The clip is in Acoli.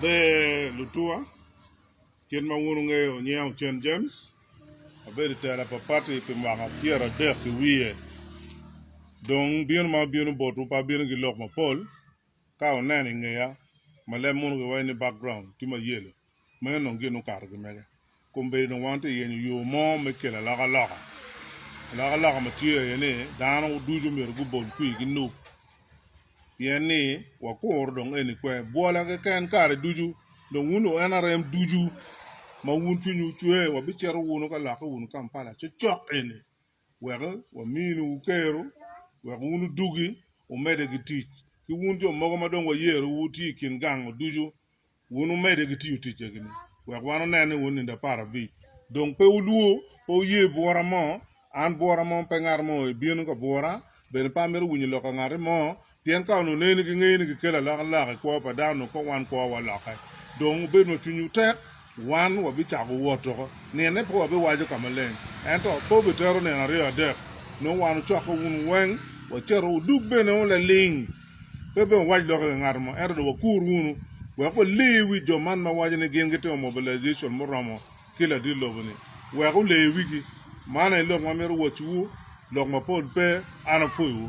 Ber lutuwa, kit ma wun wungeyo nyinga Ocen James, abedo i tela pa pati pi mwaka pyera adek ki wiye. Dong bino ma abino botwu pe abino ki lok mapol, ka wuneno i ngeya ma leb mono giwaco ni background tye ma yelo. Meno dong gin okato gi mege. Kombeddi dong wan tye ka yenyo yo mo me kelo alokaloka. Alokaloka ma tye aye ni dano ducu myero gubol kwir ki nuk pien ni wakuro dong eni kwe. Bwola keken kare ducu dong wun lu NRM ducu ma wun cwinywu ocwe wabicito wunu ka lokke wunu Kampala cokcok eni wek waminu wukeru wek wun wudugi wumedde ki tic. Ki wun jo mogo ma dong wayero wutye i kin gango ducu Wun wumedde ki tiyo ticce-gi-ni, wek wan wunen ni wun nindo apar abic dong pe wulwor, pe wuye bwora mo, an bwora mo, pe ngat mo aye bino ka bwora, bene pe amito winyo lok ka ngati mo, pien ka onongo neni gingeyo ni gikelo alokaloka i kwo pa dano, onongo kong wan kwowa walokke. Dong wubed ma cwinywu tek, wan wabicako wot oko. Nine pe wabiwaco ka maleng, ento pe wubitero nino aryo adek, nongo wan wucokke wun weng, wacito, wudug bene wun laling. Pe obed wawac lok i nge ngat mo, ento dong wakur wunu wek wale wi jo man ma waco ni gin gitimo mobilization muromo ki ladit lobo-ni, wek wule wigi. Man aye lok ma amito wacciwu, lok mapol pe, an apwoyowu.